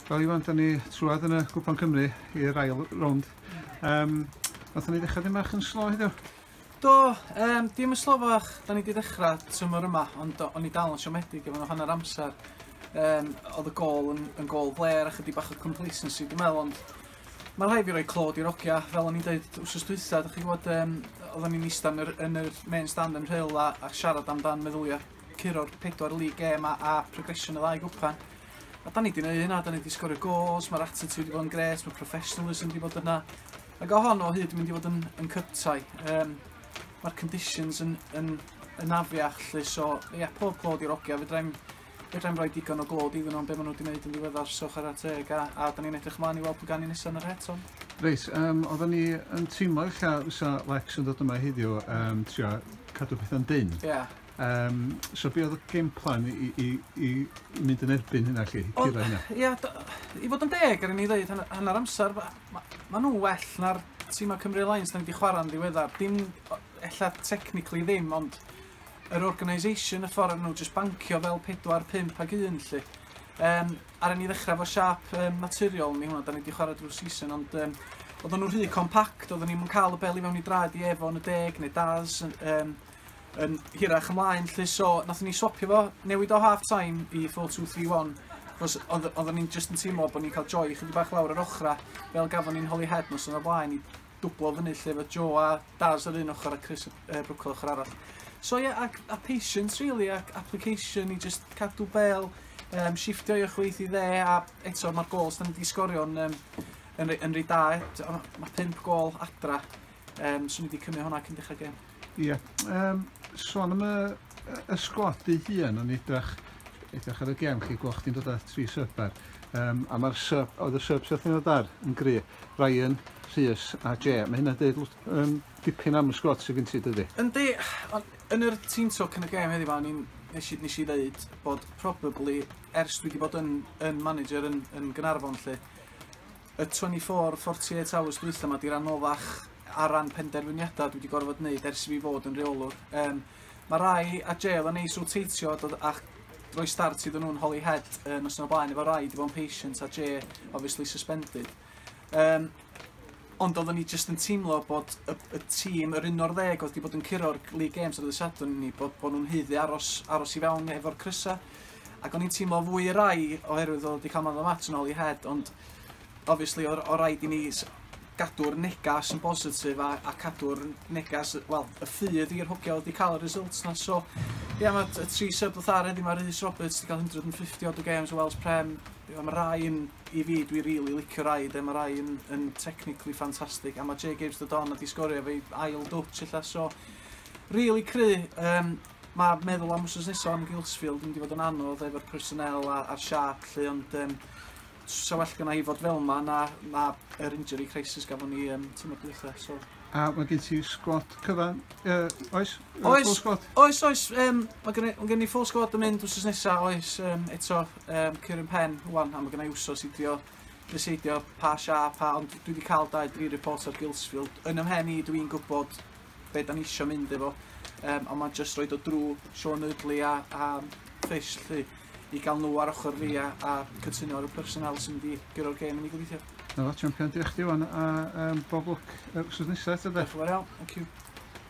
Wel Iwan, da ni trwad yn y Gwpan Cymru i'r ail rownd. Um, Oedden ni ddechrau ddim bach yn slo heddiw? Do, um, dim yn slofach, da ni wedi ddechrau tymor yma, ond o'n i dal yn siomedig efo nhw hanner amser. Um, oedd y gol yn, yn gol fler a chydig bach o complacency, dwi'n meddwl, ond mae rhai fi roi clod i'r ogia, fel o'n i'n dweud wrsos dwytha, da chi gwybod, um, oedden ni'n eistedd yn yr, yn yr main stand yn rhyl a, a siarad amdan meddyliau curo'r pedwar league game a a progression y ddau gwpan. A da ni wedi gwneud hynna, da ni wedi sgorio goals, mae'r attitude wedi bod yn gret, mae professionalism wedi bod yna. Ac o hon o hyd yn mynd i fod yn, yn cyptai. Um, mae'r conditions yn, yn, yn afiach lle, so ie, yeah, pob clod i'r ogia, fedrai'n fedrai'n rhoi digon o glod iddyn nhw'n beth maen nhw wedi gwneud yn ddiweddar, so chwarae teg, a, a da ni'n edrych ymlaen i weld pwy gan i nesaf yn yr het hon. Reit, um, oedden ni yn teimlo eich fysa Lex yn dod yma heddiw um, trio cadw pethau'n dyn. Yeah. Um, so be oedd y game plan i, i, i mynd yn erbyn hynna chi? O, ia, i fod yn deg ar ni ddweud hanner amser, mae ma, ma nhw well na'r tîm o Cymru Alliance da ni wedi chwarae'n ddiweddar. Dim, ella technically ddim, ond yr organisation, y ffordd nhw jyst bancio fel 4, 5 ag 1 lle. Um, ar ni ddechrau fo siap um, naturiol ni hwnna, da ni wedi chwarae drwy season, ond um, oedden nhw'n rhy compact, oedden ni'n cael y bel i fewn i draed i efo yn y deg neu daz, um, yn hirach ymlaen 'lly so nathon ni swopio fo, newid o half time i four two three one achos odd yy oddan ni'n jyst yn teimlo bo' ni'n ca'l joy chydig bach lawr yr ochra' fel gafon ni'n Holyhead noson o'r blaen i dwblo fyny 'lly efo Joe a Daz ar un ochor a Chris yy Brooke ochor arall. So ie ac a patience rili ac application i jyst cadw bêl yym shifftio i chwith i dde a eto ma'r gôls 'dan ni 'di sgorio'n yym yn re- yn reit da eto ma' pump gôl adra yym so ni 'di cymyd honna cyn dechra gêm. Ie, um, son am y, y sgwad ei hun yn edrych, edrych ar y gem chi, gweld chdi'n dod â tri sub ar. Um, a mae'r sub, oedd y sub sydd yn dod ar yn gry, Ryan, Rhys a Jay. Mae hynna'n dweud um, dipyn am y sgwad sydd gen ti dydy. Yndi, ond yn yr tîm talk yn y gem heddiw, o'n i'n nes i, nes i ddeud bod probably, ers dwi wedi bod yn, yn manager yn, yn Gynarfon lle, y 24, 48 hours dwytha 'ma 'di'r anoddach ar ran penderfyniadau dwi wedi gorfod wneud ers i fi fod yn reolwr. Um, mae rai a jail yn neis roteitio a dod a'ch roi start iddyn nhw'n holi head uh, nos yna blaen efo rai di bod yn patient a J obviously suspended. Um, ond oeddwn ni jyst yn teimlo bod y, y tîm, yr un o'r ddeg oedd wedi bod yn curo'r League Games ar y Sadwrn ni, bod, bod nhw'n heiddi aros, aros i fewn efo'r crysau. Ac o'n i'n teimlo fwy yr ai oherwydd oedd o 'di cael man o mat yn ôl i head ond obviously o'r o raid i ni gadw'r negas yn bositif a, a cadw'r negas, wel, y ffydd i'r hwgio wedi cael y results na. So, ie, yeah, mae y tri sub ddoth ar heddi, mae Rhys Roberts wedi cael 150 odd y games o Wells Prem. Ie, mae rai yn, i fi, dwi rili really licio rai, de, mae rai yn, yn technically ffantastig, a mae Jay Gibbs dod on a di sgorio fe ail dwtch illa, so, really cry. Um, Ma' meddwl am wsnos nesa yn Gilsfield yn mynd i fod yn anodd efo'r personnel a a'r siâp 'lly ond yym s- sa well gynna' i fod fel 'ma na na yr injury crisis gafon ni yym tymor dwytha so... A ma' gen ti sgwad cyfan yy oes? Yy Oes. Full sgwad? Oes oes yym ma' gynna' ma' gen i full sgwad yn mynd wsnos nesa oes yym eto yym cur yn pen ŵan a ma' gynna' i wsos i drio deseidio pa siâp a ond dwi 'di ca'l dau dri report ar Gilsfield yn 'y mhen i dwi'n gwbod be da ni isio mynd efo. Um, ond mae'n just roed o drwy Sean Ydley a, a Fish lly, i gael nhw ar ochr fi a, a cytuno ar y personal sy'n mynd i gyro'r gêm yn ei gobeithio. Na fo, champion, diolch di wan, a um, bob lwc uh, wrth nesaf eto da. Diolch yn fawr iawn, thank you.